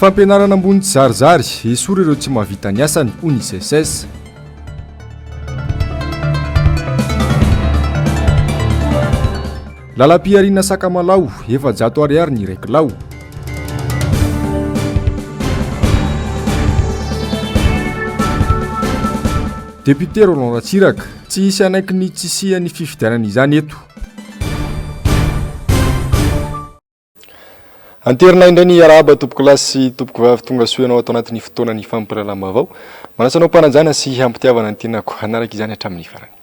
Fampianarana ambony tsy zarizary, esory ireo tsy mahavita ny asany, hoy ny SECES. Lalam-pihariana Sakamalaho, efajato ariary ny iray kilao. Député Roland Ratsiraka, tsy hisy hanaiky ny tsy hisian'ny fifidianana izany eto. Anterina indray ny arahaba tompoko lahy sy tompoko vavy tonga soa ianao ato anatin'ny fotoanan'ny fampiralalam-baovao. Manasa anao mpanajana sy hampitiavana ny tenako hanaraka izany hatramin'ny farany.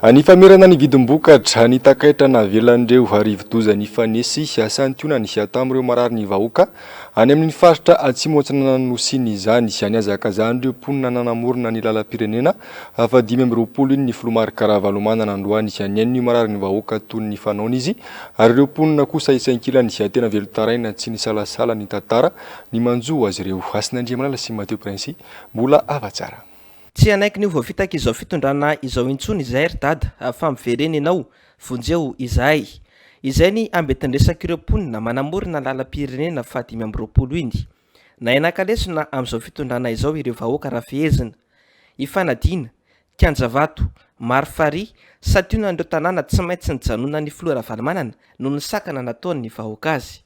Any famerana ny vidim-bokatra, ny takaitra navelan'ireo arivo-doza nifanesy hiasan-tiona ny hiato amin'ireo marary ny vahoaka any amin'ny faritra Atsimo Atsinanan'ny Nosy izany. Nihazakazan'ireo mponina nanamorona ny lalam-pirenena Afa dimy amby roapolo iny ny Filoha Marc Ravalomanana androany izay nihaino ny mararin'ny vahoaka toy ny fanaony izy ary ireo mponina kosa isankilany izay tena velon-taraina tsy nisalasala nitantara ny manjo azy ireo. Hasinandriamanana sy Mateo Princy mbola hava tsara. Tsy hanaiky ny ho voafitaka izao fitondrana izao intsony izahay ry dada fa miverena ianao, vonjeo izahay. Izay ny ambetin-dresak'ireo mponina manamorona lalam-pirenena faha dimy amby roapolo iny. Nahay nankalesona amin'izao fitondrana izao ireo vahoaka raha fehezina, Ifanadiana, Kianjavato, Marifarihy, santionan'ireo tanàna tsy maintsy nijanonan'ny filoha Ravalomanana noho ny sakana nataon'ny vahoaka azy.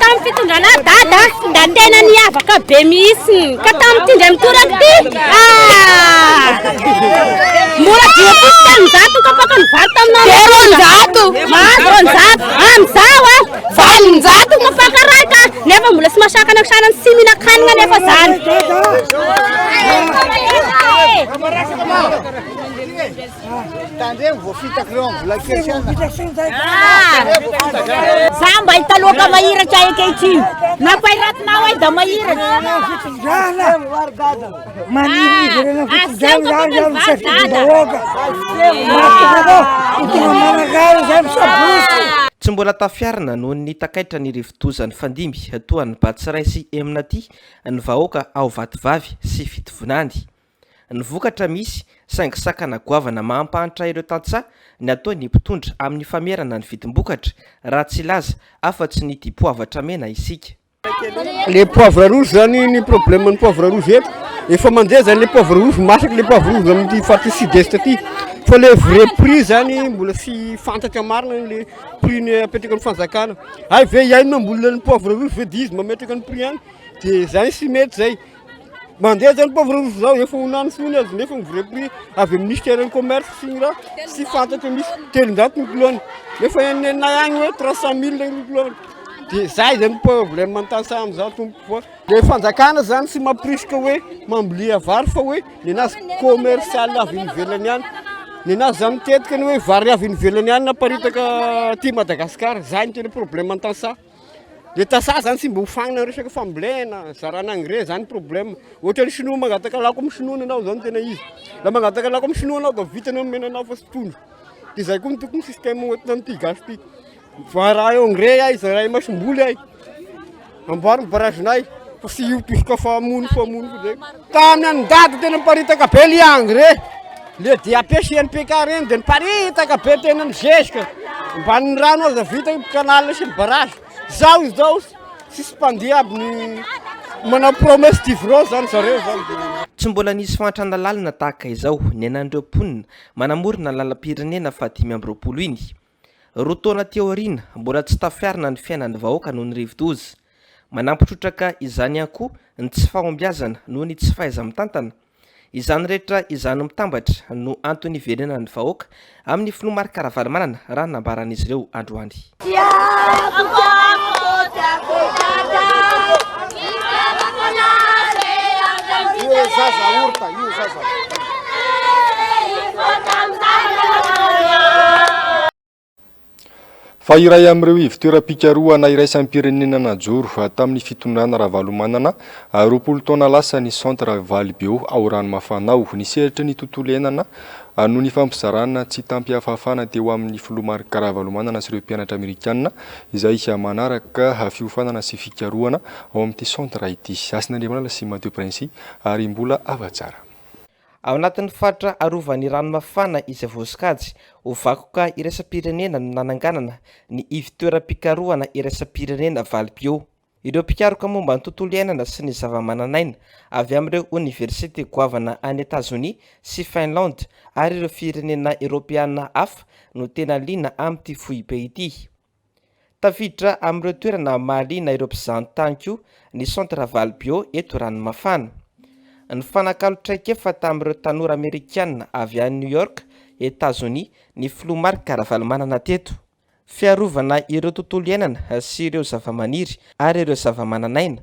Tamin'ny fitondrana dada, da tena niavaka be mihitsy. Ka tamin'ity indray mitoraka ity, ah! Mora dia fito taminjato ka paka ny valo taminao. Zero anjato. Mahazo anjato. Amizao ah, valo anjato ka paka raika. Nefa mbola tsy masakana kisana tsy mihinan-kanina nefa zany. Tandremo voafitaka ireo amin'ny vola kely siana. Za mba hita loaka mahiratra ankehitriny. Nampahiratinao ahy da mahiratra. Tsy mbola tafiarina noho ny takaitra ny rivodoza nifandimby toa an'i Batsiray sy Eminati ny vahoaka ao Vatovavy sy Fitivonany. Ny vokatra misy, saingy sakana goavana maha-ampahantra ireo tantsaha ny ataon'ny mpitondra amin'ny famerana ny vidim-bokatra, raha tsy hilaza afa-tsy ny dipoavatra mena isika. Le poivre rouge zany ny problème ny poivre rouge eto efa mandeha zany le poivre rouge masaky le poivre rouge amty faritra sud est aty fa le vrai prix zany mbola tsy fantatra marina le prix ny apetraky ny fanjakana hay ve iay no mamboly le poivre rouge ve de izy mametraka ny prix any de zay tsy mety zay Mandeha zany pauvre roso zao efa ho nany foana azy nefa ny vrai prix avy amin'ny ministère ny commerce sy ny raha sy fantatra misy telonjato ny kilony nefa eny nenay agny hoe trois cent mille ny kilony dia zay zany problème an-tasa amin'izao tompoko fa dia fanjakana zany tsy mamporisika hoe mambolia vary fa hoe nenazy commercial avy any ivelany any nenazy zany mitetika ny hoe vary avy any ivelany any naparitaka aty Madagasikara zay no tena problème an-tantsaha Le tasa zany tsy mba hofagnina resaka fambolena, zarana engrais zany problème. Ohatra ny sinoa mangataka lako amin'ny sinoa ny anao zany tena izy. Raha mangataka lako amin'ny sinoa anao dia vita ny omena anao fa tsy trondro. Dia izay koa ny tokony système hoentina an'ity gasy ity. Vara engrais ay, zaray masomboly ay. Amboary ny barragenay fa tsy io tosoka fa hamono fa hamono zay. Tany an ndaty tena niparitaka be le engrais le DAP sy NPK reny de niparitaka be tena ny zezika ambanin'ny rano aza vita io canal sy ny barrage zao izao tsisy mpandeha aby ny manao promesse d'ivrance zany zareo zany Tsy mbola nisy fahantrana lalina tahaka izao niainan'ireo mponina manamorona ny lalam-pirenena fahadimy amby roapolo iny. Roa taona aty aoriana, mbola tsy tafiarina ny fiainan'ny vahoaka noho ny rivodoza. Manampy trotraka izany ihany koa ny tsy fahombiazana noho ny tsy fahaiza-mitantana. Izany rehetra izany mitambatra no antony iverenan'ny vahoaka amin'ny filoha Marc Ravalomanana, raha ny nambaran'izy ireo androany. Fa iray amin'ireo ivon-toeram-pikarohana iraisam-pirenena najoro tamin'ny fitondrana Ravalomanana roapolo taona lasa ny Centre Valibeo ao Ranomafana ao. Ny sehatry ny tontolo iainana no nifampizarana tsy tamim-pihafahafana teo amin'ny Filoha Marc Ravalomanana sy ireo mpianatra Amerikana izay manaraka fiofanana sy fikarohana ao amin'ity centre ity. Hasina Andriamanana sy Mateo Prince ary mbola hava-tsara. Ao anatin'ny faritra arovan'ny rano mafana izay voasokajy ho vakoka iraisam-pirenena no nananganana ny ivontoeram-pikarohana iraisam-pirenena Valbio. Ireo mpikaroka momba ny tontolo iainana sy ny zavamananaina avy amin'ireo oniversite goavana any Etazonia sy Finlande ary ireo firenena eoropeana hafa no tena liana amin'ity foibe ity. Tafiditra amin'ireo toerana mahaliana ireo mpizahantany koa ny Centre Ravalo Bio eto Ranomafana. Nifanakalo traikefa tamin'ireo tanora Amerikana avy any New York, Etazonia, ny Filoha Marc Ravalomanana teto. Fiarovana ireo tontolo iainana sy ireo zavamaniry ary ireo zavamananaina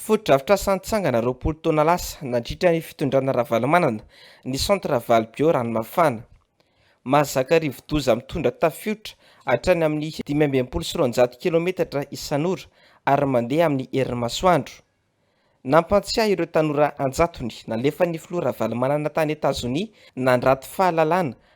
Fotodrafitrasa nitsangana roapolo taona lasa nandritra ny fitondrana Ravalomanana ny Centre Ravalo Bio Ranomafana. Mahazaka rivodoza mitondra tafiotra hatrany amin'ny dimy amby enimpolo sy roanjato kilometatra isan'ora ary mandeha amin'ny herin'ny masoandro. Nampantsiahy ireo tanora an-jatony nalefan'ny Filoha Ravalomanana tany Etazonia nandrato fahalalana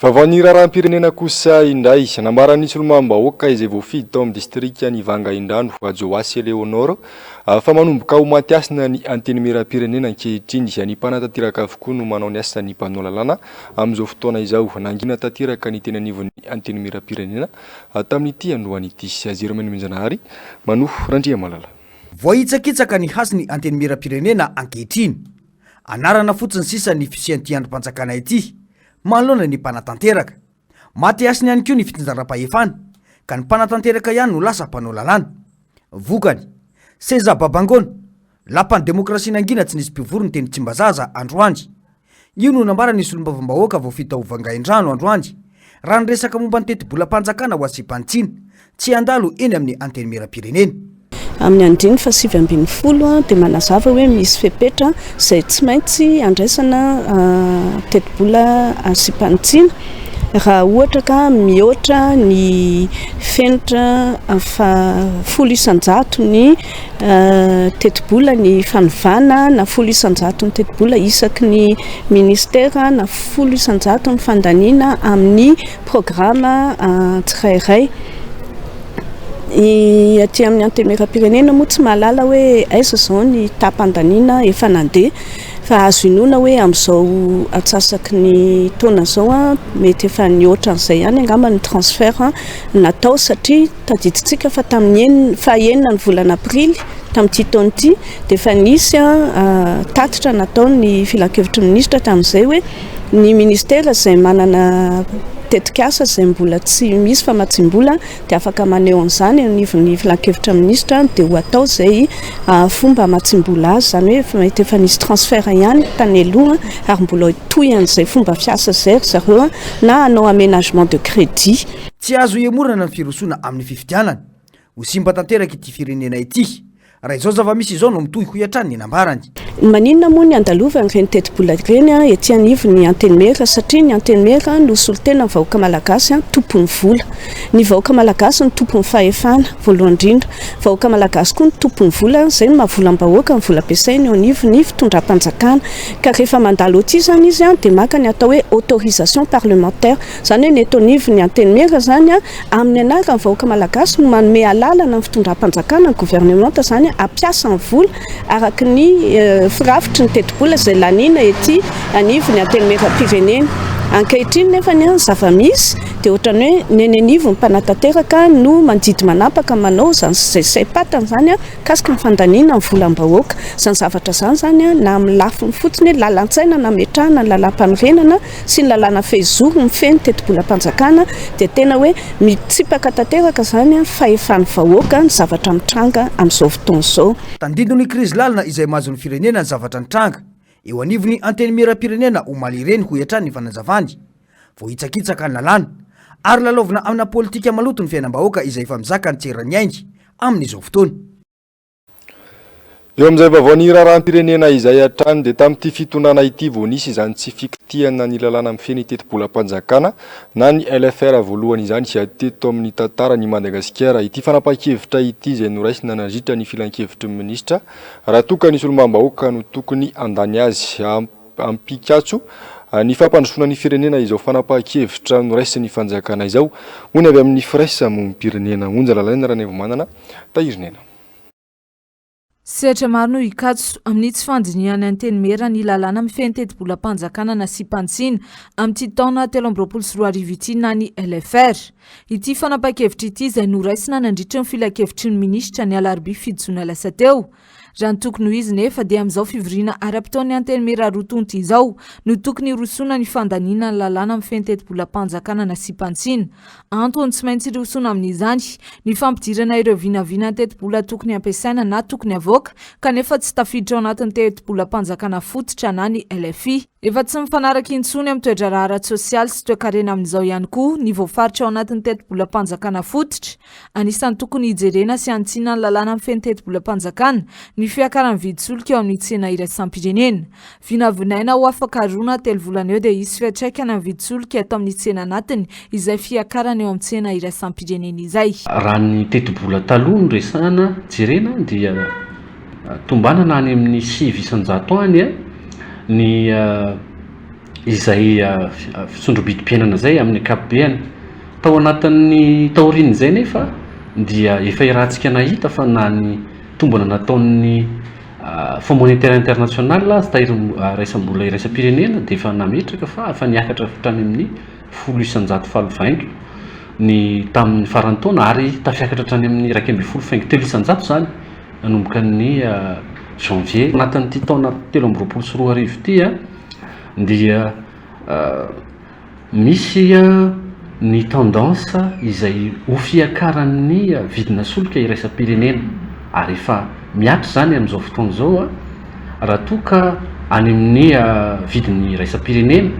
Vaovaon'ny raharaham-pirenena kosa indray. Nambaran'ny solombavambahoaka izay voafidy tao amin'ny distrikan'i Vangaindrano, Hajoasy Eléonore, fa manomboka ho maty hasina ny Antenimierampirenena ankehitriny. Ny mpanatanteraka avokoa no manao ny asan'ny mpanao lalàna amin'izao fotoana izao. Nangina tanteraka ny teny anivon'ny Antenimierampirenena tamin'ity androany ity. Jerôme Nomenjanahary manohy. Randriamalala. Voahitsakitsaka ny hasin'ny Antenimierampirenena ankehitriny. Anarana fotsiny sisa ny fisian'ity andrim-panjakana ity, manoloana ny mpanatanteraka. Maty hasina ihany koa ny fitsinjaram-pahefana, ka ny mpanatanteraka ihany no lasa mpanao lalàna. Vokany, seza babangoana, lapan'ny demokrasia nangina tsy nisy mpivory ny teny Tsimbazaza, androany. Io no nambaran'ny solombavambahoaka vao vita hovangain-drano, androany, Raha ny resaka momba ny tetibolam-panjakana ho asiam-panitsiana, tsy handalo eny amin'ny Antenimierampirenena. Amin'ny andininy fahasivy ambin'ny folo dia manazava hoe misy fepetra izay tsy maintsy handraisana tetibola asiam-panitsiana raha ohatra ka mihoatra ny fenitra fahafolo isan-jato ny Tetibola ny fanovana na folo isan-jaton'ny tetibola isaky ny Minisitera na folo isan-jato ny fandaniana amin'ny programa tsirairay. Ny aty amin'ny Antenimierampirenena moa tsy mahalala hoe aiza izao ny taham-pandaniana efa nandeha fa azo inoana hoe amin'izao antsasaky ny taona izao mety efa nihoatra an'izay ihany angamba ny transfert natao satria Tadidintsika fa tamin'ny enina, fahenina ny volana aprily tamin'ity taona ity dia efa nisy tatitra nataon'ny filankevitry ny minisitra tamin'izay hoe ny minisitera izay manana tetikasa izay mbola tsy misy famatsiam-bola dia afaka maneho an'izany eo anivon'ny filankevitra minisitra dia ho atao izay fomba hamatsiam-bola azy, izany hoe efa mety efa nisy transfert ihany tany aloha ary mbola hitohy an'izay fomba fiasa izay ry zareo na hanao aménagement de crédit. Tsy azo ihemorana ny firosoana amin'ny fifidianana. Ho simba tanteraka ity firenena ity, raha izao zava-misy izao no mitohy, hoy hatrany ny nambarany. Maninona moa ny handalovana ireny tetibola ireny ety anivon'ny Antenimiera? Satria ny Antenimiera no solontenan'ny vahoaka malagasy, tompon'ny vola. Ny vahoaka malagasy no tompon'ny fahefana, voalohany indrindra. Vahoaka malagasy koa no tompon'ny vola, izay no maha volam-bahoaka ny vola ampiasainy eo anivon'ny fitondram-panjakana. Ka rehefa mandalo ety izany izy dia maka ny atao hoe autorisation parlementaire. Izany hoe ny eto anivon'ny Antenimiera izany, amin'ny anaran'ny vahoaka malagasy no manome alalana ny fitondram-panjakana, ny governemanta izany, hampiasa ny vola araka ny firafitry ny tetibola izay laniana ety anivon'ny Antenimieram-pirenena. Ankehitriny nefa ny zava-misy dia ohatran'ny hoe ny eny anivon'ny mpanatanteraka no mandidy manapaka manao izany sy izay saim-patany izany mikasika ny fandaniana ny volam-bahoaka. Izany zavatra izany izany na amin'ny lafiny fotsiny hoe lalan-tsaina nametrahana ny lalàmpanorenana sy ny lalàna fehizoro mifehy ny tetibolam-panjakana dia tena hoe mitsipaka tanteraka izany ny fahefan'ny vahoaka ny zavatra mitranga amin'izao fotoana izao. Tandindon'ny krizy lalina izay mahazo ny firenena ny zavatra nitranga eo anivon'ny Antenimierampirenena omaly ireny hoy hatrany ny fanazavany. Voahitsakitsaka ny lalàna ary lalaovina amina politika maloto ny fiainam-bahoaka izay efa mizaka ny tseran'ny ainy amin'izao fotoana. Eo amin'izay vaovao ny raharaham-pirenena izay hatrany dia tamin'ity fitondrana ity vao nisy izany tsy fikitihana ny lalàna mifehy ny tetibolam-panjakana na ny LFR voalohany izany sy ady teto amin'ny tantaran'i Madagasikara ity fanapahan-kevitra ity izay noraisina nandritra ny filankevitry ny minisitra raha toa ka ny solombavambahoaka no tokony handany azy hampikatso ny fampandrosoana ny firenena izao fanapahan-kevitra noraisin'ny fanjakana izao hoy ny avy amin'ny firaisamonim-pirenena Onja Lalaina Ranaivomanana Tahiry nena. Sehatra maro no hikatso, amin'ny tsy fandinihany Antenimiera ny lalàna mifehy ny tetibolam-panjakana nasiam-pantsina amin'ity taona telo amby roapolo sy roa arivo ity na ny LFR. Ity fanapahan-kevitra ity izay noraisina nandritry ny filankevitry ny minisitra ny alarobia fito jona lasa teo, Raha ny tokony ho izy nefa dia amin'izao fivoriana ara-potoan'ny Antenimiera roa tonta izao no tokony hirosoana ny fandaniana ny lalàna mifehy ny tetibolam-panjakana nasiam-pantsina. Antony tsy maintsy hirosoana amin'izany ny fampidirana ireo vinavina tetibola tokony hampiasaina na tokony havoaka kanefa tsy tafiditra ao anatin'ny tetibolam-panjakana fototra na ny LFI. Efa tsy mifanaraka intsony amin'ny toe-draharaha ara-tsosialy sy toe-karena amin'izao ihany koa ny voafaritra ao anatin'ny tetibolam-panjakana fototra. Anisan'ny tokony hijerena sy hanitsiana ny lalàna mifehy ny tetibolam-panjakana ny fiakaran'ny vidin-tsolika eo amin'ny tsena iraisam-pirenena. Vinavinaina ho afaka roa na telo volana eo dia hisy fiantraikany amin'ny vidin-tsolika eto amin'ny tsena anatiny izay fiakarana eo amin'ny tsena iraisam-pirenena izay. Raha ny tetibola taloha no resahana, jerena, dia tombanana any amin'ny sivy isan-jato any ny izay fisondrobidim-piainana izay amin'ny ankapobeny. Tao anatin'ny taorian'izay nefa dia efa iarahantsika nahita fa na ny tombana nataon'ny Fonds monétaire international aza tahirin'ny raisam-bola iraisam-pirenena dia efa nametraka fa efa niakatra hatrany amin'ny folo isan-jato faly vainga ny tamin'ny faran'ny taona ary tafiakatra hatrany amin'ny iraika ambin'ny folo faingo telo isan-jato izany. nanomboka ny Janvier. Anatin'ity taona telo amby roapolo sy roa arivo ity dia misy ny tendance izay ho fiakaran'ny vidina solika iraisam-pirenena ary efa mihatra izany amin'izao fotoana izao raha toa ka any amin'ny vidiny iraisam-pirenena,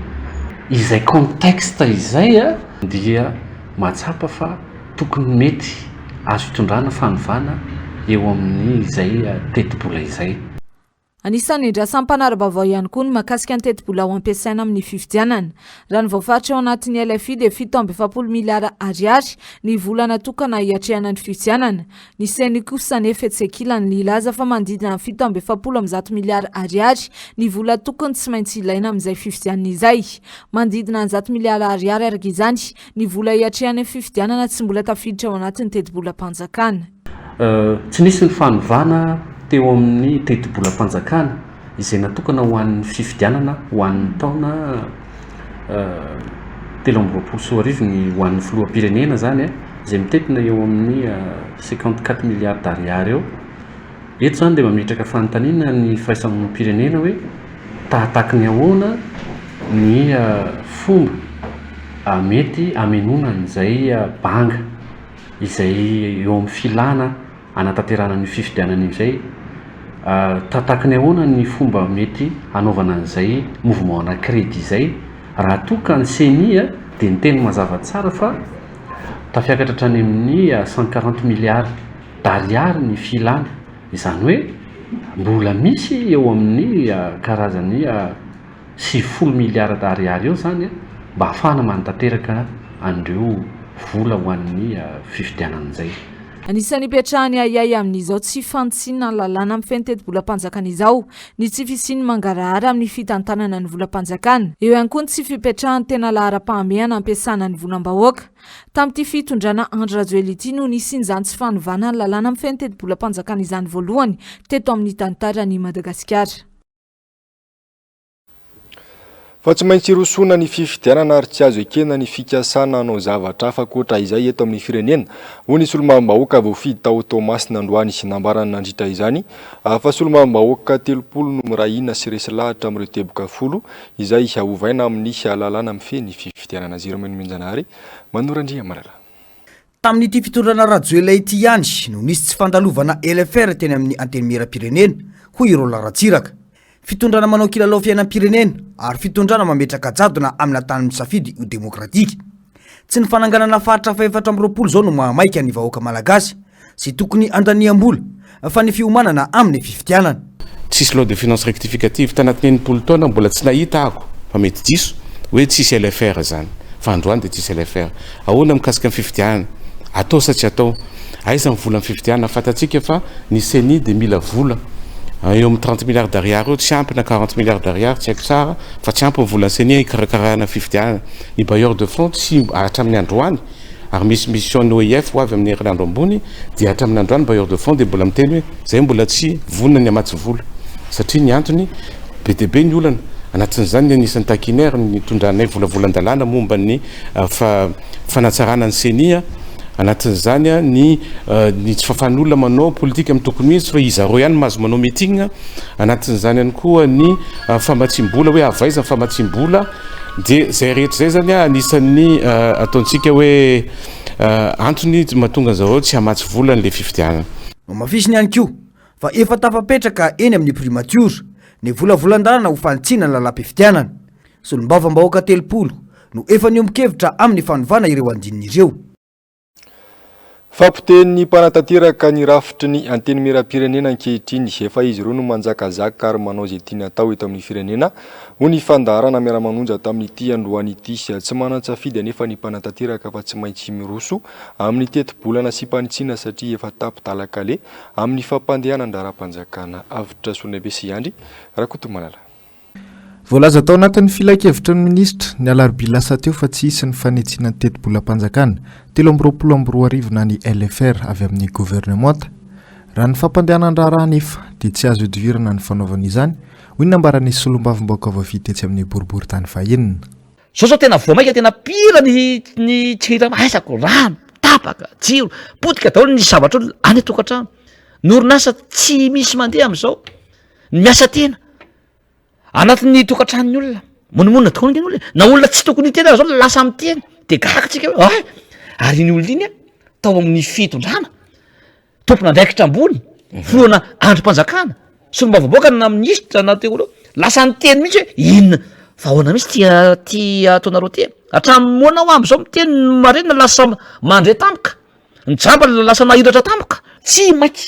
izay contexte izay dia mahatsapa fa. tokony mety azo hitondrana fanovana eo amin'izay tetibola izay. Anisan'ny andrasan'ny mpanara-baovao ihany koa ny mahakasika ny tetibola ho ampiasaina amin'ny fifidianana. Raha ny voafaritra ao anatin'ny LFI dia fito amby efapolo miliara Ariary ny vola natokana hiatrehana ny fifidianana. Ny Ceni kosa anefa etsy ankilany nilaza fa manodidina amin'ny fito amby efapolo amby zato miliara Ariary ny vola tokony tsy maintsy ilaina amin'izay fifidianana izay. Manodidina ny zato miliara Ariary araka izany Ny vola hiatrehany ny fifidianana tsy mbola tafiditra ao anatin'ny tetibolam-panjakana. Tsy nisy ny fanovana teo amin'ny tetibolam-panjakana izay natokana ho an'ny fifidianana ho an'ny taona telo amby roapolo sy roa arivo ny ho an'ny filoham-pirenena izany izay mitentina eo amin'ny cinquante quatre milliards d'ariary eo. Eto izany dia mametraka fanontaniana ny firaisamamonim-pirenena hoe tahataky ny ahoana ny fomba mety hamenoana an'izay banga izay eo amin'ny filàna hanatanterahana an'io fifidianana io izay. Tahataky ny ahoana ny fomba mety hanaovana an'izay mouvement ana credit izay raha toa ka ny ceni dia niteny mazava tsara fa tafiakatra hatrany amin'ny cent quarante milliards. d'ariary ny filana, izany hoe mbola misy eo amin'ny karazan'ny sivifolo miliara d'ariary eo izany mba hahafahana manatanteraka an'ireo vola ho an'ny fifidianana izay. Anisan'ny ipetrahan'ny ahiahy amin'izao tsy fanitsiana ny lalàna mifehy ny tetibolam-panjakana izao ny tsy fisian'ny mangarahara amin'ny fitantanana ny volam-panjakana. Eo ihany koa ny tsy fipetrahan'ny tena laharam-pahamehana ampiasana ny volam-bahoaka. Tamin'ity fitondrana Andry Rajoelina ity no nisian'izany tsy fanovana ny lalàna mifehy ny tetibolam-panjakana izany voalohany teto amin'ny tantaran'i Madagasikara. Fa tsy maintsy hirosoana ny fifidianana ary tsy azo ekena ny fikasana hanao zavatra hafa ankoatra izay eto amin'ny firenena, hoy ny solombavambahoaka voafidy tao Toamasina androany. Nambarany nandritra izany fa solombavambahoaka telopolo no miray hina sy resy lahatra amin'ireo teboka folo izay ovaina amin'ny lalàna mifehy ny fifidianana, Zero Menomenjanahary, Manu Randriamalala. Tamin'ity fitondrana Rajoelina ity ihany no nisy tsy fandalovana LFR teny amin'ny Antenimierampirenena, hoy i Roland Ratsiraka. Fitondrana manao kilalao fiainam-pirenena ary fitondrana mametraka jadona amina tany misafidy ho demokratika. Tsy ny fananganana faritra fahefatra amby roapolo izao no mahamaika ny vahoaka malagasy Tsy tokony handaniam-bola, fa ny fiomanana amin'ny fifidianana. Tsisy loi de finances rectificative tanatin'ny enimpolo taona mbola tsy nahita aako fa mety diso hoe tsisy LFR izany fa androany dia tsisy LFR ahoana mikasika ny fifidianana atao sa tsy atao aiza ny vola ny fifidianana fantatsika fa ny ceni dia mila vola eo amin'ny trente milliards d'ariary eo tsy ampy na quarante milliards d'ariary tsy haiko tsara fa tsy ampy ny vola ny ceni hikarakarana ny fifidianana ny bailleur de fonds tsy hatramin'ny androany Ary misy mission ny OIF ho avy amin'ny herinandro ambony dia hatramin'ny andro any bailleur de fonds dia mbola miteny hoe izay mbola tsy vonona ny hamatsy vola satria ny antony be dia be ny olana, anatin'izany ny anisan'ny taquiner ny nitondranay volavolan-dalàna momba ny fanatsarana ny ceni a, anatin'izany a ny ny tsy fahafahan'olona manao politika amin'ny tokony ho izy fa izy zareo ihany mahazo manao meeting a, anatin'izany ihany koa ny famatsiam-bola hoe avy aiza ny famatsiam-bola. Dia izay rehetra izay izany anisan'ny ataontsika hoe antony mahatonga an'i zareo tsy hamatsy vola an'ilay fifidianana. Nohamafisiny ihany koa fa efa tafapetraka eny amin'ny primatiora ny volavolan-dalana ho fanitsiana ny lalam-pifidianana. Solombavambahoaka telopolo no efa niombon-kevitra amin'ny fanovana ireo andininy ireo. Fapotehin'ny mpanatanteraka ny rafitry ny Antenimierampirenena ankehitriny. Efa izy ireo no manjakazaka ary manao izay tiany atao eto amin'ny firenena, hoy ny fandaharana Miara-manonja tamin'ity androany ity. Tsy manan-tsafidy anefa ny mpanatanteraka fa tsy maintsy miroso amin'ny tetibolana sy mpanitsiana satria efa tapi-dalan-kaleha amin'ny fampandehanan-draharaham-panjakana. Avotra Sonaibe sy Andry Rakotomalala. Voalaza tao anatin'ny filankevitry ny minisitra, ny alarobia lasa teo fa tsy hisy ny fanitsiana ny tetibolam-panjakana telo amby roapolo amby roa arivo na ny LFR avy amin'ny governemanta. Raha ny fampandehanan-draharaha anefa dia tsy azo ihodivirana ny fanaovana izany, hoy ny nambaran'ny solombavambahoaka voafidy tetsy amin'ny boriboritany vahiny. Zao zao tena vao maika tena pire ny ny tsirira maisako, rano, tapaka, jiro, potika daholo ny zavatr'olona any an-tokantrano. Ny orinasa tsy misy mandeha amin'izao. ny miasa tena anatin'ny tokantranon'ny olona monomonina tokoa ny olona na olona tsy tokony hiteny aza zao lasa miteny de gaga tsika hoe ay ary iny olona iny a tao amin'ny fitondrana tompon'andraikitra ambony filoana andrim-panjakana solombavambahoaka na minisitra na teolo lasa niteny mihitsy hoe inona fa ahoana mihitsy tia ty ataonareo ty hatramin'ny moana ho am'izao miteny ny marina lasa mandre tampoka ny jamba lasa nahiratra tampoka tsy maika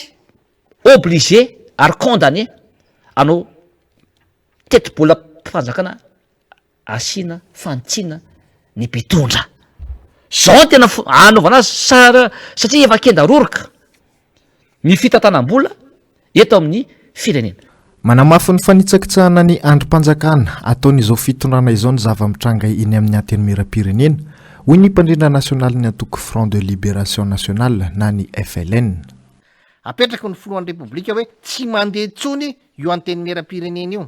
obligé ary condamné hanao tetibolam-panjakana asiana fanitsiana ny mpitondra. Zao no tena anaovana azy sara satria efa kenda roroka ny fitantanam-bola eto amin'ny firenena. Manamafy ny fanitsakitsahana ny andrim-panjakana ataon'izao fitondrana izao ny zava-mitranga eny amin'ny Antenimieram-pirenena, hoy ny mpandrindra nasionalin'ny antoko Front de Libération Nationale na ny FLN. Apetraky ny filohan'ny Repoblika hoe tsy mandeha intsony io antenimieram-pirenena io.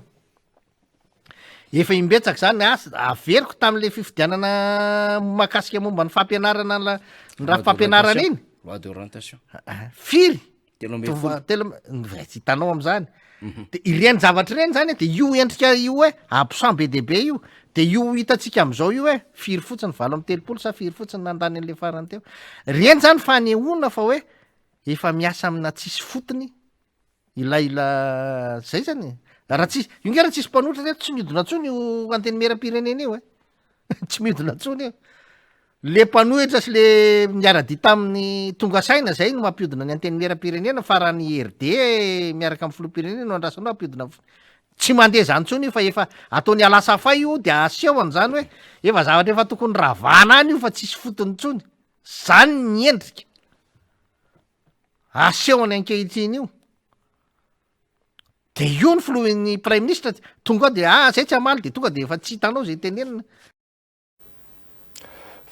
Efa imbetsaka izany asa averiko tamin'ilay fifidianana makasika momba ny fampianarana ny rafi-pampianarana iny. Loi d'orientation. Ah, firy? Telo ambin'ny folo. Telo ambin'ny- tsy hitanao amin'izany. Mhm. De ireny zavatra ireny zany de io endrika io hoe absent be dia be io de io hitantsika amin'izao io hoe firy fotsiny valo amby telopolo sa firy fotsiny nandany an'ilay farany teo ireny zany fanehoana fa hoe efa miasa amina tsisy fotony ilay la zay zany e. raha tsisy io nge raha tsisy mpanotra reto tsy miodina ntsony io antenimieram-pirenena io e tsy miodina ntsony io le mpanohitra sy le miara-dia tamin'ny tonga saina zay no mampiodina ny antenimieram-pirenena fa raha ny RD miaraka amin'ny filoham-pirenena no andrasana ao hampiodina f- tsy mandeha zany ntsony io fa efa ataony alasafay io dia asehony zany hoe efa zavatra efa tokony ravana any io fa tsisy fotony ntsony Izany ny endrika asehony ankehitriny io. De io ny filohan'ny praiminisitra tonga ao de ah zay tsy hamaly de tonga de efa tsy hitanao zay tenenina.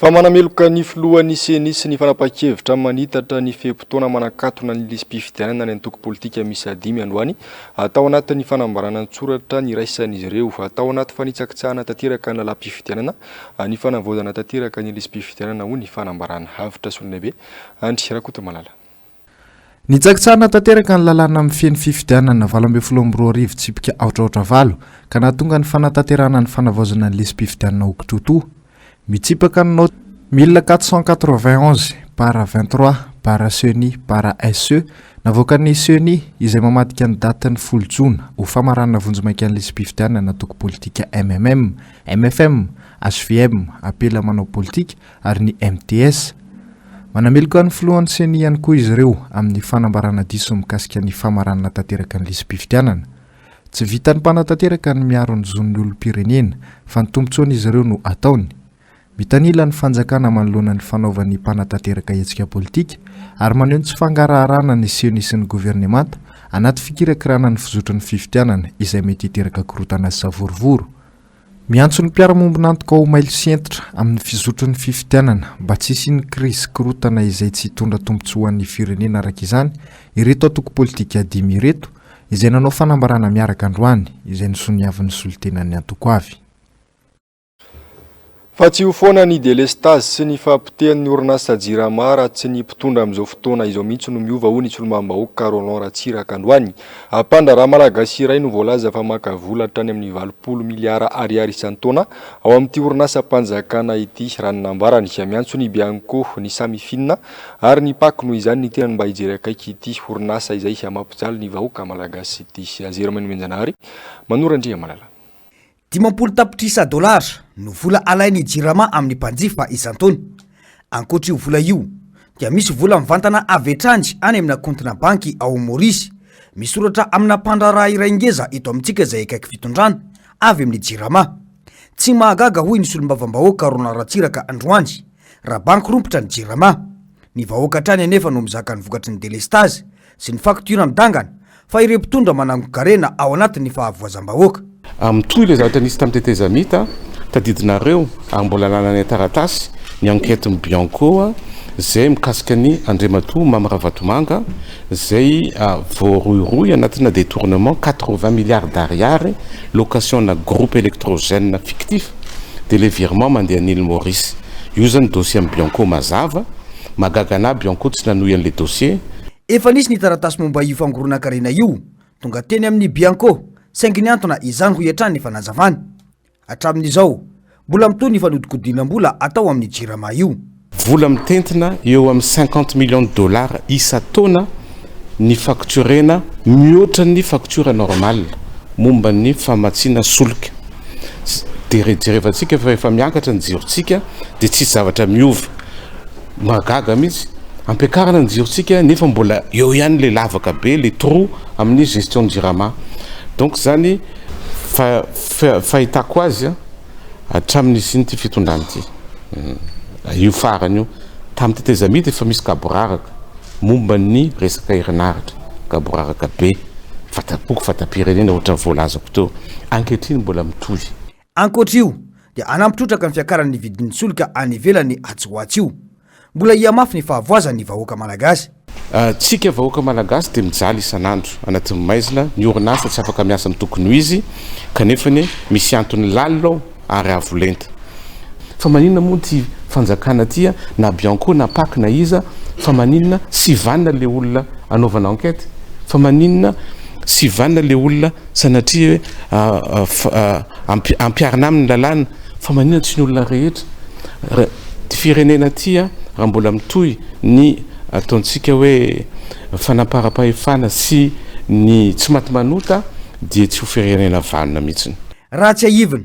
Fa manameloka ny filohan'ny ceni sy ny fanapahan-kevitra manitatra ny fe-potoana manakatona ny lisi-pifidianana ny antoko politika miisa dimy androany atao anatin'ny fanambarana an-tsoratra niraisan'izy ireo atao anaty fanitsakitsahana tanteraka ny lalam-pifidianana ny fanavaozana tanteraka ny lisi-pifidianana hoy ny fanambaran'ny havotra solon'aibe, Andry Rakotomalala. Nitsakitsahina tanteraka ny lalàna mifehy ny fifidianana valo ambin'ny folo amby roa arivo tsipika aotra aotra valo ka nahatonga ny fanatanterahana ny fanavaozana ny lisi-pifidianana ho kitoatoa mitsipaka ny naoty mille quatre cent quatre-vingt onze barra vingt-trois barra ceni barra SE navoakan'ny ceni izay mamadika ny datin'ny folo jona ho famaranana vonjimaika ny lisi-pifidianana antoko politika MMM Mfm, hvm, apela manao politika, ary ny MTS. Manameloka ny filohan'ny ceni ihany koa izy ireo amin'ny fanambarana diso mikasika ny famaranana tanteraka ny lisi-pifidianana. Tsy vitan'ny mpanatanteraka ny miaro ny zon'ny olom-pirenena, fa ny tombontsoan'izy ireo no ataony. Mitanila ny fanjakana manoloana ny fanaovan'ny mpanatanteraka hetsika politika, ary maneho ny tsy fangaraharana ny ceni sy ny governemanta anaty fikirakirana ny fizotry ny fifidianana izay mety hiteraka korontana sy savorovoro. Miantso ny mpiara-mombon'antoka ho mailo sy hentitra amin'ny fizotry ny fifidianana mba tsy hisian'ny krizy korontana izay tsy hitondra tombontsoa ho an'ny firenena araka izany ireto antoko politika dimy ireto izay nanao fanambarana miaraka androany izay nisoniavin'ny solontenan'ny antoko avy Fa tsy io foana ny delestazy sy ny fahapotehan'ny orinasa Jirama raha tsy ny mpitondra amin'izao fotoana izao mihitsy no miova hoy ny solombavambahoaka Roland Ratsiraka androany. Mpandraharaha malagasy iray no voalaza fa maka vola hatrany amin'ny valopolo miliara ariary isan-taona ao amin'ity orinasam-panjakana ity raha ny nambarany. Miantso ny Bianco, ny Samifina ary ny Pac noho izany ny tenany mba hijery akaiky ity orinasa izay mampijaly ny vahoaka malagasy ity. Zero Menomenjanahary, Manoro Andriamalala. Dimampolo tapitrisa dolara no vola alain'ny Jirama amin'ny mpanjifa isan-taona. Ankoatr'io vola io, dia misy vola mivantana avy hatrany any amina kaontina banky ao Maorisy, misoratra amina mpandraharaha iray ngeza eto amintsika izay akaiky fitondrana, avy amin'ny Jirama. Tsy mahagaga hoy ny solombavambahoaka Roland Ratsiraka androany, raha banky rompitra ny Jirama. Ny vahoaka hatrany anefa no mizaka ny vokatry ny delestazy sy ny faktiora midangana fa ireo mpitondra manangon-karena ao anatin'ny fahavoazam-bahoaka. Amin'ny toy ilay zavatra nisy tamin'ny tetezamita tadidinareo ary mbola anananay taratasy ny enquête-n'ny Bianco izay mikasika an'i Andriamatoa Mamy Ravatomanga izay voarohirohy anatina detournement quatre-vingts milliards d'ariary location-na groupe électrogène fictif dia ilay virement mandeha an'Ile Maurice. Io izany dossier-n'ny Bianco mazava. Mahagaga anah bio ankoho tsy nanohy an'le dossier. Efa nisy ny taratasy momba io fangoronan-karena io, tonga teny amin'ny Bianco, saingy nihantona izany hoy hatrany ny fanazavany. Hatramin'izao, mbola mitohy ny fanodikodinam-bola atao amin'ny Jirama io. Vola mitentina eo amin'ny cinquante millions de dollars isan-taona ny faktiorena, mihoatra ny faktiora normal momba ny famatsiana solika. Dia rejerevantsika fa rehefa miakatra ny jirontsika dia tsisy zavatra miova. Mahagaga mihitsy. Ampiakarina ny jirontsika nefa mbola eo ihany ilay lavaka be, ilay trou amin'ny gestion ny Jirama. Donc izany fahitako azy hatramin'ny nisian'ity fitondrana ity, io farany io. Tamin'ny tetezamita efa misy gaboraraka momba ny resaka herinaratra, gaboraraka be, fata-poko, fata-pirenena ohatran'ny voalazako teo. Ankehitriny mbola mitohy. Ankoatra io, dia hanampy trotraka ny fiakaran'ny vidin'ny solika any ivelany atsy ho atsy io. Mbola hihamafy ny fahavoazan'ny vahoaka Malagasy. Antsika vahoaka Malagasy dia mijaly isan'andro anatin'ny maizina, ny orinasa tsy afaka miasa amin'ny tokony ho izy, kanefa anie misy antony lalina ao ary avo lenta. Fa maninona moa ity fanjakana ity a, na Bianco na Pac na iza, fa maninona sy vanona le olona anaovana enquête, fa maninona sy vanona le olona Sanatria hoe ampiharina aminy ny lalàna fa maninona tsy ny olona rehetra? Ty firenena ty raha mbola mitohy ny ataontsika hoe fanamparam-pahefana sy ny tsy maty manota dia tsy ho firenena vanona mihitsy. Raha tsiahivina,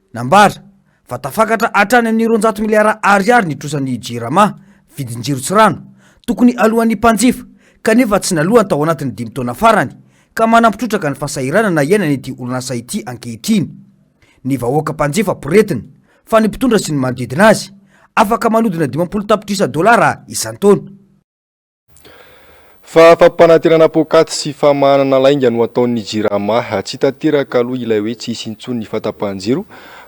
Nambara fa tafakatra hatrany amin'ny roanjato miliara Ariary ny trosan'ny Jirama, vidin-jiro sy rano, tokony aloan'ny mpanjifa, kanefa tsy naloany tao anatin'ny dimy taona farany, ka manampy trotraka ny fahasahiranana iainan'ity orinasa ity ankehitriny. Ny vahoaka mpanjifa poretina, fa ny mpitondra sy ny manodidina azy, afaka manodina dimampolo tapitrisa dolara isan-taona. Fa fampanantenana poakaty sy famahanana lainga no ataon'ny Jirama. Tsy tanteraka aloha ilay hoe tsy hisy intsony ny fahatapahan-jiro.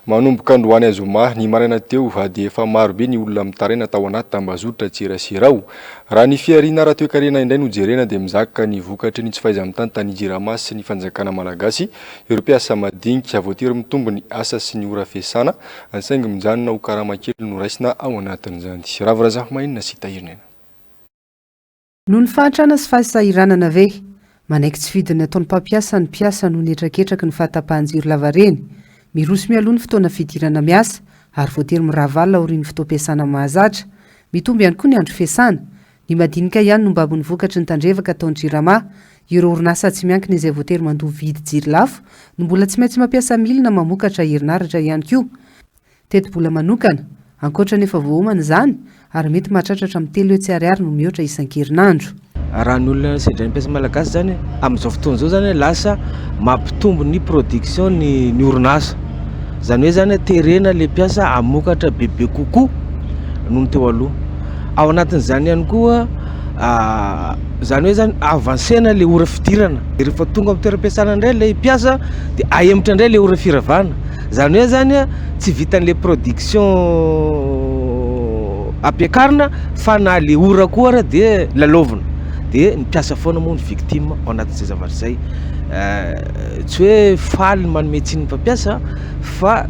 Manomboka androany zoma, ny maraina teo, dia efa maro be ny olona mitaraina tao anaty tambazotran-tserasera ao. Raha ny fihariana ara-toekarena indray no jerena dia mizaka ny vokatry ny tsy fahaiza-mitantana ny Jirama sy ny fanjakana malagasy ireo mpiasa madinika. Voatery mitombo ny asa sy ny ora fiasana saingy mijanona ho karama kely no raisina ao anatin'izany. Ravo Razafimahainina sy Tahirinena. Noho ny fahantrana sy fahasahiranana ve? Manaiky tsy fidiny ataon'ny mpampiasa ny mpiasa noho ny hetraketraky ny fahatapahan-jiro lavareny. Miroso mialoha ny fotoana fidirana miasa, ary voatery mirahavavla aorian'ny fotoam-piasana mahazatra. Mitombo ihany koa ny andro fiasana. Ny madinika ihany no mibabo ny vokatry ny tandrevaka ataon'ny Jirama. Ireo orinasa tsy miankina izay voatery mandoa vidy jiro lafo no mbola tsy maintsy mampiasa milina mamokatra herinaratra ihany koa. Tetibola manokana, ankoatra ny efa voaomana izany, ary mety mahatratra hatramin'ny telo hetsy ariary no mihoatra isan-kerinandro. Raha ny olona sedra ny mpiasa malagasy izany, amin'izao fotoana izao izany, lasa mampitombo ny production ny ny orinasa. Izany hoe izany, terena ilay mpiasa hamokatra bebe kokoa noho ny teo aloha. Ao anatin'izany ihany koa, izany hoe izany, avancer-na ilay ora fidirana. Dia rehefa tonga amin'ny toeram-piasana indray ilay mpiasa dia ahemotra indray ilay ora firavana. Zany hoe zany a, tsy vitan'le production ampiakarina fa na le ora koa ara de lalaovina, de ny mpiasa foana moa no victime ao anatin'izay zavatra izay, tsy hoe faly ny manome tsiny ny mpampiasa fa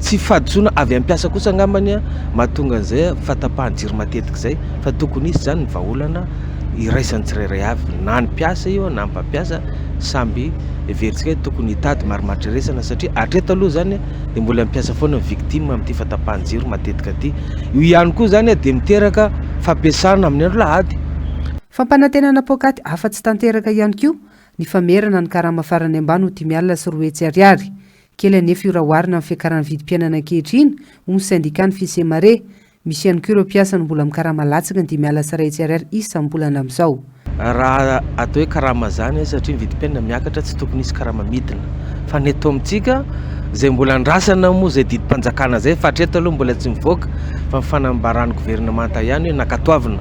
tsy fahadisoana avy amin'ny mpiasa kosa angambany mahatonga an'izay fahatapahan-jiro matetika izay fa tokony hisy zany ny vahaolana. iraisan'ny tsirairay avy na ny mpiasa io na ny mpampiasa samby heverintsika hoe tokony hitady marimaritra satria hatreto aloha izany dia mbola ny mpiasa foana no victime amin'ity fahatapahan-jiro matetika ity. Io ihany koa izany dia miteraka fampiasana amin'ny andro alahady. Fampanantenana poakaty afa-tsy tanteraka ihany koa ny famerana ny karama farany ambany ho dimy alina sy roa hetsy ariary. Kely anefa io raha oharina amin'ny fiakaran'ny vidim-piainana ankehitriny, hoy ny sendikàn'ny Fisemare. Misy ihany koa ireo mpiasa no mbola mikarama latsaka ny dimy alina sy iray hetsy ariary isam-bolana amin'izao. Raha atao hoe karama izany hoe satria ny vidim-piainana miakatra tsy tokony hisy karama midina. Fa ny eto amintsika, izay mbola andrasana moa izay didim-panjakana izay fa hatreto aloha mbola tsy mivoaka fa ny fanambaran'ny governemanta ihany hoe nankatoavina.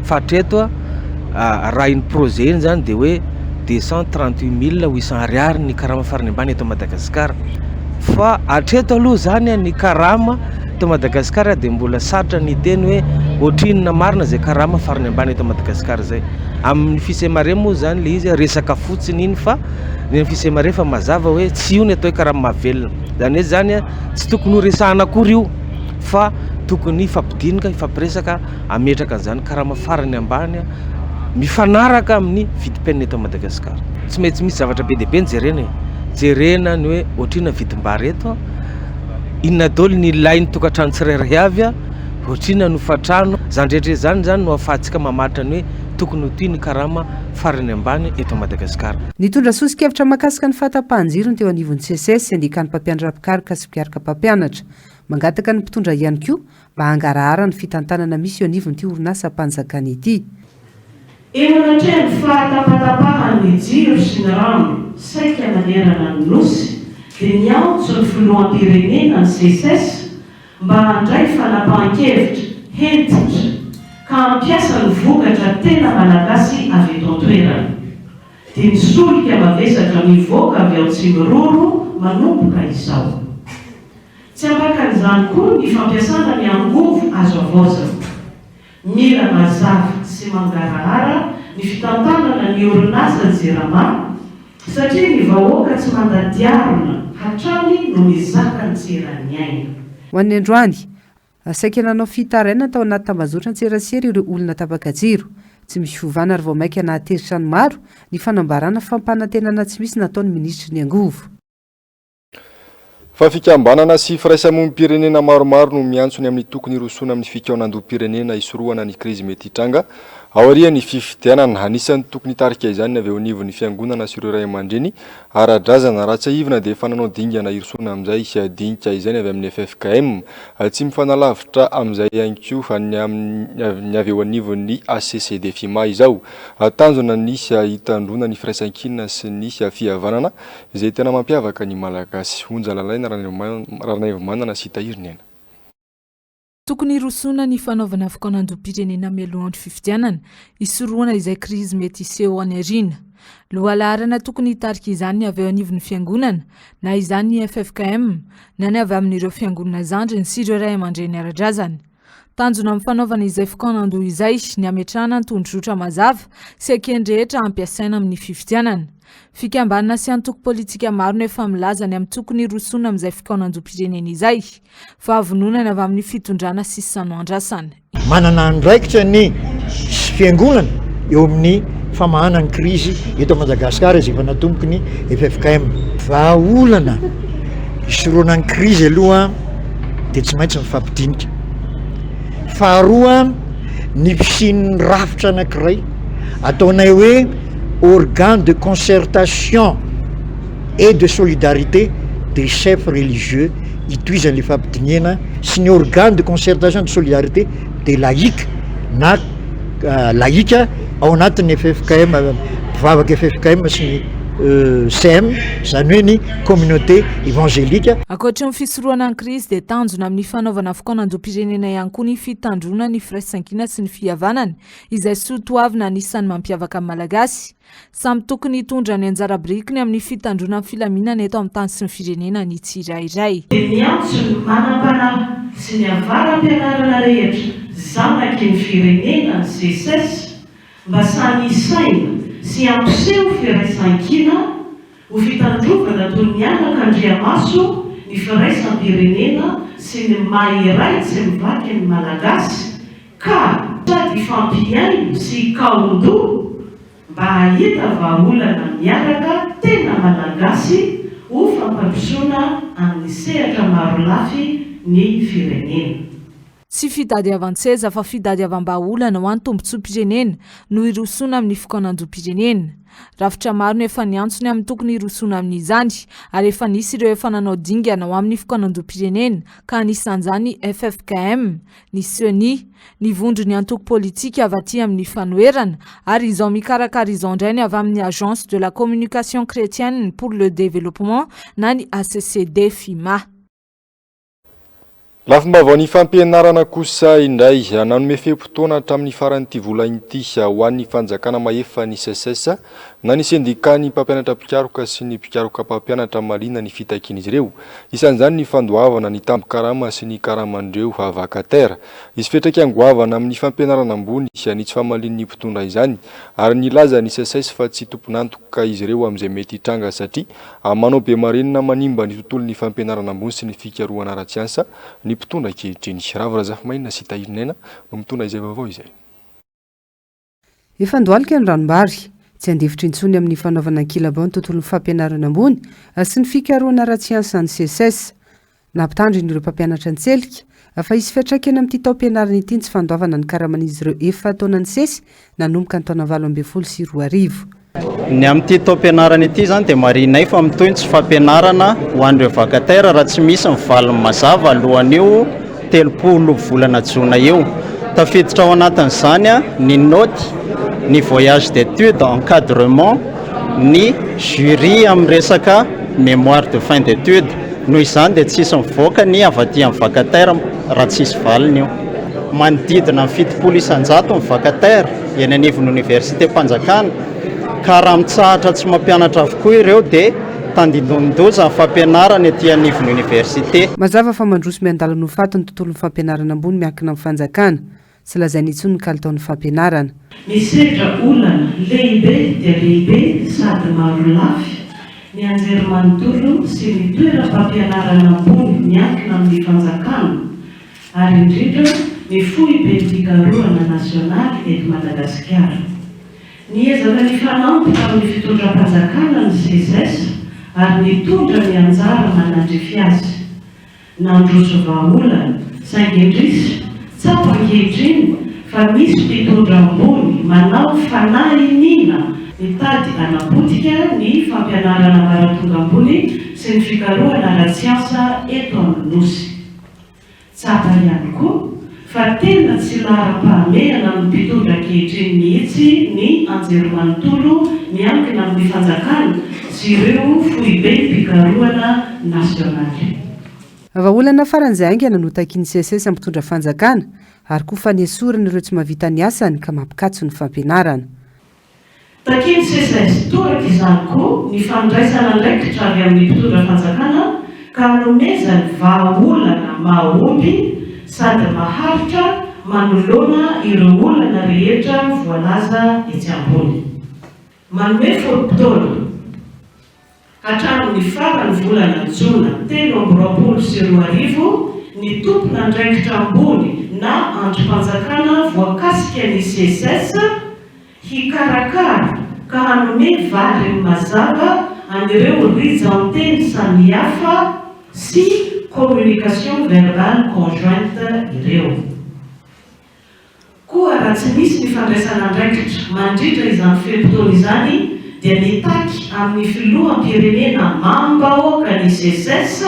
Fa hatreto, raha iny projet iny izany dia hoe deux cent trente huit mille huit cent ariary ny karama farany ambany eto Madagasikara. Fa hatreto aloha izany ny karama. Eto Madagasikara dia mbola sarotra ny hiteny hoe ohatrinona marina izay karama farany ambany eto Madagasikara izay. Amin'ny fisemare moa izany ilay izy resaka fotsiny iny fa ny amin'ny fisemare fa mazava hoe tsy io ny atao hoe karama mahavelona. Izany hoe izany tsy tokony ho resahana akory io fa tokony hifampidinika, hifampiresaka hametraka an'izany karama farany ambany mifanaraka amin'ny vidim-piainana eto Madagasikara. Tsy maintsy misy zavatra be dia be no jerena e, jerena ny hoe ohatrinona ny vidim-bary eto, Inona daholo ny ilain'ny tokantrano tsirairay avy a? Ohatr'inona ny hofantrano? Izany rehetra izany izany no ahafahantsika mamaritra ny hoe tokony ho ty ny karama farany ambany eto Madagasikara. Nitondra soso-kevitra mahakasika ny fahatapahan-jiro ny teo anivon'ny Seces sy andiakan'ny mpampianatra mpikaroka sy mpikaroka mpampianatra. Mangataka ny mpitondra ihany koa mba hangarahara ny fitantanana misy eo anivon'ity orinasam-panjakana ity. Eo anatrehan'ny fahatapatapahan'ny jiro sy ny rano saika manerana ny Nosy dia niantso ny Filoham-pirenena ny Seces mba handray fanapahan-kevitra hentitra ka hampiasa ny vokatra tena malagasy avy eto an-toerana. Dia ny solika mavesatra mivoaka avy ao Tsimiroro manomboka izao. Tsy afakan'izany koa ny fampiasana ny angovo azo havaozana. Mila mazava sy mangarahara ny fitantanana ny orinasa Jirama satria ny vahoaka tsy manda diarona hatrany no mizaka ny tsy eran'ny aina. Ho an'ny androany, saika nanao fitarainana tao anaty tambazotran-tserasera ireo olona tapaka jiro. Tsy misy fiovana ary vao mainka nahatezitra ny maro ny fanambarana fampanantenana tsy misy nataon'ny minisitry ny angovo. Fa fikambanana sy firaisamonim-pirenena maromaro no miantso ny amin'ny tokony hirosoana amin'ny fikaonandoham-pirenena hisorohana ny krizy mety hitranga aorian'ny fifidianana. Anisan'ny tokony hitarika izany ny avy eo anivon'ny fiangonana sy ireo ray aman-dreny ara-drazana. Raha tsiahivina dia efa nanao dingana hirosoana amin'izay dinika izay ny avy amin'ny ffkm. Tsy mifanalavitra amin'izay ihany koa ny amin'ny avy eo anivon'ny HCCD-FIMA izao. Tanjona ny hitandroana ny firaisankina sy ny fihavanana Izay tena mampiavaka ny Malagasy. Onja lalaina Ranaivomanana sy Tahiry Nena. Tokony hirosoana ny fanaovana fikaonandoham-pirenena mialoha andro fifidianana, hisorohana izay krizy mety hiseho any aoriana. Lohalaharana tokony hitarika izany ny avy eo anivon'ny Fiangonana, na izany ny ffkm, na ny avy amin'ireo Fiangonana zandriny sy ireo Ray aman-dReny ara-drazana. Tanjona amin'ny fanaovana izay fikaonandoha izay ny hametrahana tondrozotra mazava sy ekeny rehetra hampiasaina amin'ny fifidianana. Fikambanana sy antoko politika maro no efa milaza ny amin'ny tokony hirosoana amin'izay fikaonandoham-pirenena izay fa vononany avy amin'ny fitondrana sy sano andrasana. Manana andraikitra ny Fiangonana eo amin'ny famahana ny krizy eto Madagasikara izay efa natomboky ny ffkm. Vahaolana hisoroana ny krizy aloha. dia tsy maintsy mifampidinika. Faharoa, ny fisian'ny rafitra anankiray ataonay hoe organe de concertation et de solidarité des chefs religieux itohizan'ilay fampidinihana sy ny organe de concertation de solidarité des laïcs na laïka ao anatin'ny ffkm mpivavaka ffkm sy ny euh, sem izany hoe ny communauté évangélique Ankoatry ny Fitorohana ny krizy dia tanjona amin'ny fanaovana fokoan'anjom-pirenena ihany koa ny fitandroana ny firaisankina sy ny fihavanana, izay soa toavina anisan'ny mampiavaka ny Malagasy. Samy tokony hitondra ny anjara birikiny amin'ny fitandroana ny filaminana eto amin'ny tany sy ny firenena ny tsirairay. Dia miantso ny manam-panahy sy ny avara-pianarana rehetra zanaky ny firenena ny Seces mba samy hisaina sy hampiseho firaisankina Ho fitandrovana toy ny anaka andriamaso ny firaisam-pirenena sy ny maha iray tsy mivaky ny Malagasy ka sady hifampihaino sy hikaon-doha mba hahita vahaolana miaraka tena Malagasy ho fampandrosoana amin'ny sehatra marolafy ny firenena. Tsy fitadiavan-tseza fa fitadiavam-bahaolana ho an'ny tombontsoam-pirenena no hirosoana amin'ny fikaonandoham-pirenena. Rafitra maro no efa niantso ny amin'ny tokony hirosoana amin'izany ary efa nisy ireo efa nanao dingana ho amin'ny fikaonandoham-pirenena ka anisan'izany ny ffkm, ny ceni, ny vondron'ny antoko politika avy aty amin'ny fanoherana ary izao mikarakara izao indray ny avy amin'ny Agence de la Communication Chretienne pour le Développement na ny ACCD-FIMA. Lafim-baovaon'ny fampianarana kosa indray, nanome fe-potoana hatramin'ny faran'ity volana ity ho an'ny fanjakana mahefa ny SECES na ny sendikàn'ny mpampianatra mpikaroka sy ny mpikaroka mpampianatra mahaliana ny fitakian'izy ireo, isan'izany ny fandoavana ny tambin-karama sy ny karaman'ireo vacataires. Hisy fiantraikany goavana amin'ny fampianarana ambony ny tsy famalian'ny mpitondra izany ary nilaza ny SECES fa tsy tompon'antoka izy ireo amin'izay mety hitranga satria Amin'ny manao bemarinina manimba ny tontolon'ny fampianarana ambony sy ny fikarohana ara-tsiansa ny mpitondra ankehitriny. Ravo Razafimaina sy Tahiry Naina no mitondra izay vaovao izay. Efa ndohalika ny ranom-bary. Tsy handefitra intsony amin'ny fanaovana ankilabao ny tontolon'ny fampianarana ambony sy ny fikarohana ara-tsiansa ny Seces. Nampitandrina ireo mpampianatra an-tselika fa hisy fiantraikany amin'ity taom-pianarana ity ny tsy fandoavana ny karaman'izy ireo efa taona nisesy nanomboka ny taona valo ambin'ny folo sy roa arivo. Ny amin'ity taom-pianarana ity izany dia marihinay fa mitohy ny tsy fampianarana ho an'ireo vacataires raha tsy misy ny valiny mazava alohan'io telopolo volana jona io. Tafiditra ao anatin'izany ny naoty, ny voyage d'études, encadrement, ny jury amin'ny resaka mémoire de fin d'études. Noho izany dia tsy hisy mivoaka ny avy aty amin'ny vacataire raha tsy hisy valiny io. Manodidina ny fitopolo isan-jato ny vacataire eny anivon'ny Oniversitem-panjakana ka raha mitsahatra tsy mampianatra avokoa ireo dia tandindomin-doza ny fampianarana ety anivon'ny Oniversite. Mazava fa mandroso miandalana ho faty ny tontolon'ny fampianarana ambony miankina amin'ny fanjakana. Tsy lazainy intsony ny kalitaon'ny fampianarana. Misedra olana lehibe dia lehibe sady maro lafy ny anjerimanontolo sy ny toeram-pampianarana ambony miankina amin'ny fanjakana ary indrindra ny foiben'ny fikarohana nasionaly eto Madagasikara. Niezaka nifanampy tamin'ny fitondram-panjakana ny SESES ary nitondra ny anjara manandrify azy. Nandroso vahaolana, saingy indrisy, tsapa ankehitriny fa misy mpitondra ambony manao fanahy iniana mitady hanapotika ny fampianarana ambaratonga ambony sy ny fikarohana ara-tsiansa eto amin'ny Nosy. Tsapa ihany koa, Fa tena tsy laharam-pahamehana amin'ny mpitondra ankehitriny mihitsy ny anjerimanontolo miankina amin'ny fanjakana sy ireo foibenim-pikarohana nasionaly. Vahaolana faran'izay haingana no takian'ny CSS mpitondra fanjakana ary koa fanesorana ireo tsy mahavita ny asany ka mampikatso ny fampianarana. Takian'ny CSS toraka izany koa ny fandraisana andraikitra avy amin'ny mpitondra fanjakana ka anomezany vahaolana mahomby sady maharitra manoloana ireo olana rehetra voalaza etsy ambony. Manome fotoana. Hatramin'ny faran'ny volana jona telo amby roapolo sy roa arivo, ny tompon'andraikitra ambony na andrim-panjakana voakasika ny SECES hikarakara ka hanome valiny mazava an'ireo rijan-teny samihafa sy communication verbale conjointe ireo. Koa raha tsy misy ny fandraisana andraikitra mandritra izany fe-potoana izany dia mitaky amin'ny filoham-pirenena mam-bahoaka ny SECES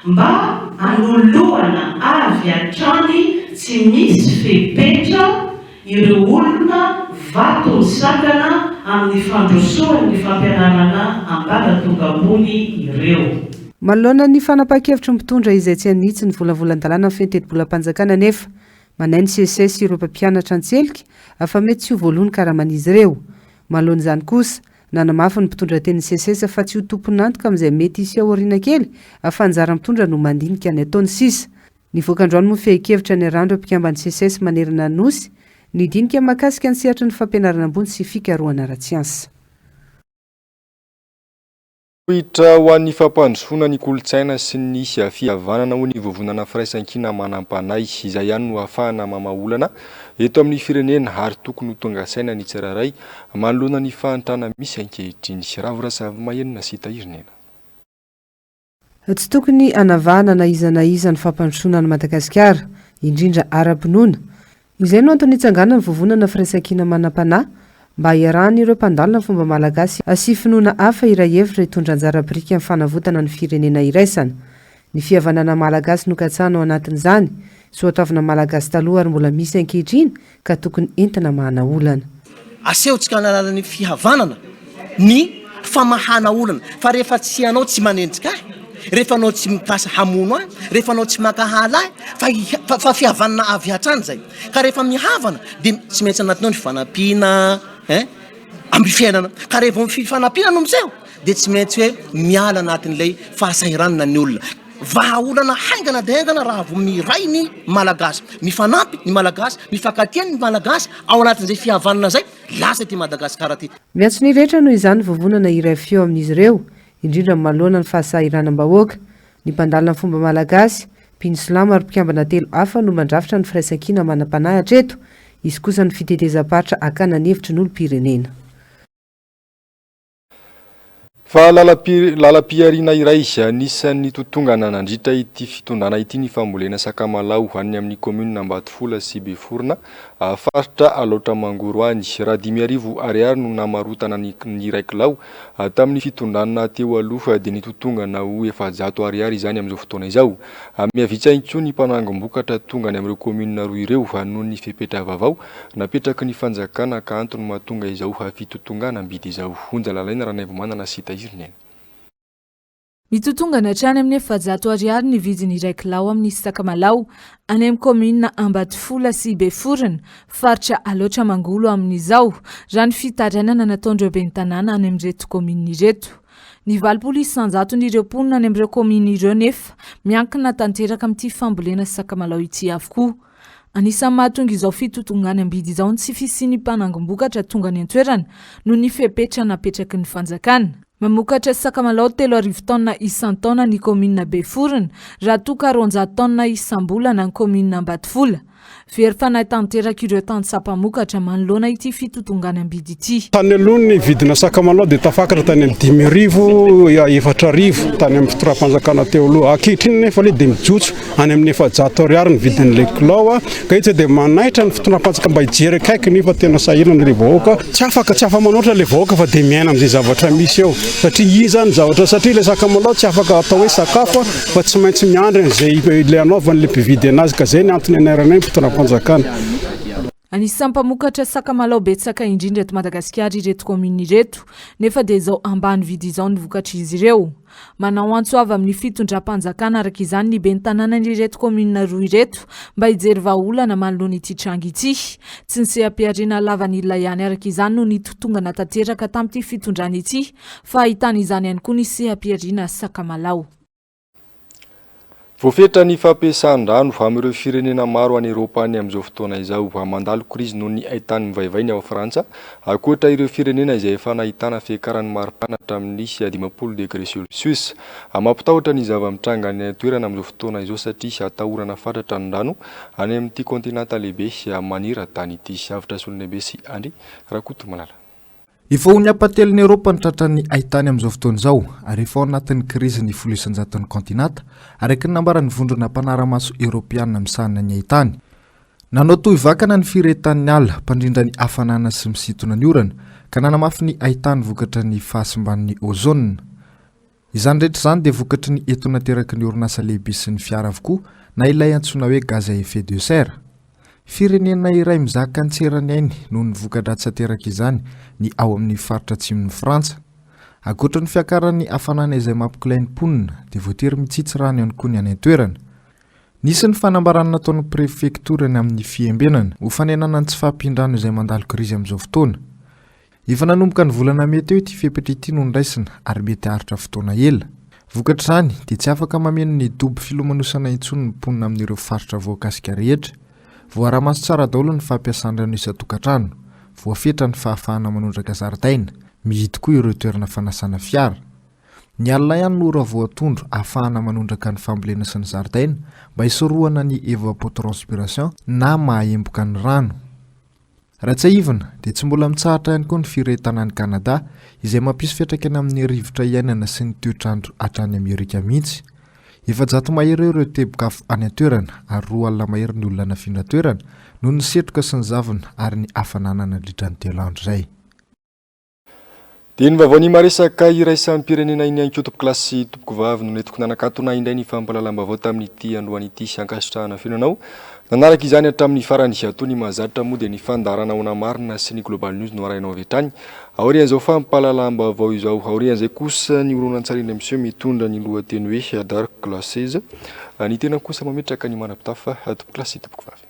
mba hanoloana avy hatrany tsy misy fepetra ireo olona vaton'ny sakana amin'ny fandrosoan'ny fampianarana ambaratonga ambony ireo. Manoloana ny fanapahan-kevitry ny mpitondra izay tsy hanitsy ny volavolan-dalàna feno tetibolam-panjakana anefa, Manahy ny Seces ireo mpampianatra an-tselika fa mety tsy ho voaloa ny karaman'izy ireo. Manoloana izany kosa, nanamafy ny mpitondratenin'ny Seces fa tsy ho tompon'antoka amin'izay mety hisy aoriana kely fa anjara mitondra no mandinika ny ataony sisa. Nivoaka androany moa fehin-kevitra niarahan'ireo mpikamban'ny Seces manerana ny Nosy, ny dinika mahakasika ny sehatry ny fampianarana ambony sy fikarohana ara-tsiansa. Fototra ho an'ny fampandrosoana ny kolontsaina sy ny fihavanana hoy ny Vovonana Firaisankina Manampanahy. Izay ihany no ahafahana mamaha olana eto amin'ny firenena ary tokony ho tonga saina ny tsirairay manoloana ny fahantrana misy ankehitriny. Ravo Razavimahena sy Tahiry Nena. Tsy tokony hanavahana na iza na iza ny fampandrosoana an'i Madagasikara, indrindra ara-pinoana, Izay no antony itsanganan'ny Vovonana Firaisankina Manam-panahy mba hiarahan'ireo mpandala ny fomba malagasy sy finoana hafa iray hevitra hitondra anjara biriky amin'ny fanavotana ny firenena iraisana. Ny fihavanana malagasy nokatsahana ao anatin'izany, soatoavina malagasy taloha ary mbola misy ankehitriny ka tokony entina mahana olana. Asehontsika amin'ny alalan'ny fihavanana ny famahana olana fa rehefa tsy ianao tsy manenjika ahy, rehefa anao tsy mikasa hamono ahy, rehefa anao tsy mankahala ahy fa fa fa fihavanana avy hatrany izay. Ka rehefa mihavana dia tsy maintsy anatiny ao ny fifanampiana ein amin'ny fiainana. Ka raha vao ny fifanampiana no miseho dia tsy maintsy hoe miala anatin'ilay fahasahiranana ny olona. Vahaolana haingana dia haingana raha vao miray ny Malagasy. Mifanampy ny Malagasy, mifankatia ny Malagasy ao anatin'izay fihavanana izay, lasa ity Madagasikara ity. Ny antso ny rehetra noho izany vovonana iray feo amin'izy ireo, indrindra amin'ny maloana ny fahasahiranam-bahoaka. Ny mpandalina ny fomba malagasy, mpino silamo ary mpikambana telo hafa no mandrafitra ny firaisankina manam-panahy hatreto, hisy kosa ny fitetezam-paritra hakana ny hevitry ny olom-pirenena. Fa lalam-pihariana iray anisan'ny totongana nandritra ity fitondrana ity ny fambolena sakamalaho any amin'ny kaominina Ambatofola sy Beforona, faritra Alaotra Mangoro any. Raha dimy arivo Ariary no namarotana ny iray kilao tamin'ny fitondrana teo aloha dia nitotongana ho efajato Ariary izany amin'izao fotoana izao. Mihavitsa intsony ny mpanangom-bokatra tonga any amin'ireo kaominina roa ireo noho ny fepetra vaovao Napetraky ny fanjakana ka antony mahatonga izao hafitotongana am-bidy izao. Onja lalaina Ranaivomanana sy Tahiriny an! Mitotongana hatrany amin'ny efajato ariary ny vidin'ny iray kilao amin'ny sakamalao any amin'ny kaominina Ambatofola sy Beforona, faritra Alaotra Mangolo amin'izao, raha ny fitarainana nataon'ireo ben'ny tanàna any amin'ireto kaominina ireto. Ny valopolo isanjaton'ireo mponina any amin'ireo kaominina ireo nefa miankina tanteraka amin'ity fambolena sakamalao ity avokoa. Anisan'ny mahatonga izao fitotongan'ny am-bidy izao ny tsy fisian'ny mpanangom-bokatra tonga any an-toerana noho ny fepetra napetraky ny fanjakana. Mamokatra sakamalaho telo arivo taonina isan-taona ny kaominina Beforona, raha toa ka roanjato taonina isam-bolana ny kaominina Ambatofola. Very fanahy tanteraka ireo tantsaha mpamokatra manoloana ity fitotongan'ny am-bidy ity. Tany aloha ny vidina sakamalaho dia tafakatra tany amin'ny dimy arivo, efatra arivo tany amin'ny fitondram-panjakana teo aloha. Ankehitriny anefa ilay dia mijotso. any amin'ny efajato ariary ny vidin'ilay kilao ka etsy dia manaitra ny fitondram-panjaka mba hijery akaiky ny fa tena sahirana ilay vahoaka tsy afaka tsy afa-manoatra ilay vahoaka fa dia miaina amin'izay zavatra misy eo satria izy izany ny zavatra satria ilay sakamalao tsy afaka atao hoe sakafo fa tsy maintsy miandry an'izay ilay anaovan'ilay mpividy anazy ka izay ny antony anaranay ny fitondram-panjakana Anisan'ny mpamokatra sakamalaho betsaka indrindra eto Madagasikara ireto kaominina ireto, nefa dia izao ambany vidy izao ny vokatr'izy ireo. Manao antso avy amin'ny fitondram-panjakana araka izany ny ben'ny tanànan'ireto kaominina roa ireto mba hijery vahaolana manoloana ity tranga ity. Tsy ny seha-pihariana lavanila ihany araka izany no nitotongana tanteraka tamin'ity fitondrana ity fa ahitana izany ihany koa ny seha-pihariana sakamalaho. Voafetra ny fampiasan-drano amin'ireo firenena maro any Eropa any amin'izao fotoana izao. Mandalo krizy noho ny haitany mivaivay ny ao Frantsa, ankoatra ireo firenena izay efa nahitana fiakaran'ny maripana hatramin'ny dimampolo degre celcius. Mampitahotra ny zava-mitranga any an-toerana amin'izao fotoana izao satria atahorana fatratra ny rano any amin'ity kaontinanta lehibe maneran-tany ity. Avotra Solonebe sy Andry Rakotomalala. Efa ho ny ampahatelon'i Eoropa ny tratran'ny haitany amin'izao fotoana izao, ary efa ao anatin'ny krizy ny folo isan-jaton'ny kaontinanta, araka ny nambaran'ny vondrona mpanara-maso eoropeana misahana ny haitany. Nanao tohy vakana ny firehetan'ny ala, mpandrindra ny hafanana sy misintona ny orana, ka nanamafy ny haitany vokatra ny fahasimban'ny ozona. Izany rehetra izany dia vokatry ny etona ateraky ny orinasa lehibe sy ny fiara avokoa na ilay antsoina hoe gaz à effet de serre. Firenena iray mizaka an-tserany ainy noho ny voka-dratsy aterak'izany ny ao amin'ny faritra atsimon'i Frantsa. Ankoatra ny fiakaran'ny hafanana izay mampikolay ny mponina dia voatery mitsitsy rano ihany koa ny any an-toerana. Nisy ny fanambarana nataon'ny prefektora ny amin'ny fiembenana ho fanenana ny tsy fahampian-drano izay mandalo krizy amin'izao fotoana. Efa nanomboka ny volana mey teo ity fepetra ity no noraisina ary mety haharitra fotoana ela. Vokatr'izany dia tsy afaka mameno ny dobo filomanosana intsony ny mponina amin'ireo faritra voakasika rehetra. Voaara-maso tsara daholo ny fampiasan-drano isan-tokantrano. Voafetra ny fahafahana manondraka zaridaina. Mihidy koa ireo toerana fanasana fiara. Ny alina ihany no ora voatondro ahafahana manondraka ny fambolena sy ny zaridaina mba hisorohana ny evapotranspiration na mahaemboka ny rano. Raha tsiahivina, dia tsy mbola mitsahatra ihany koa ny firehetana any Kanada, izay mampisy fiantraikany amin'ny rivotra iainana sy ny toetr'andro hatrany Amerika mihitsy. Efajato mahery eo ireo teboka-afo any an-toerana, ary roa alina mahery ny olona nafindra toerana, noho ny setroka sy ny zavona ary ny hafanana nandritra ny telo andro izay. Dia ny vaovao ny maresaka iraisam-pirenena iny ankotompokolahy sy tompokovavy no nentiko nanakatona indray ny fampahalalam-baovao tamin'ity androany ity sy ankasitrahana feno anao nanaraka izany hatramin'ny farany ato ny mahazatra moa dia ny fandaharana ona marina sy ny global news no arahinao avy hatrany aorian'izao fampahalalam-baovao izao aorian'izay kosa ny horonantsary indray miseho mitondra ny lohateny hoe dark glasses ny tenako kosa mametraka ny manapitafa tompokolasy sy tompokovavy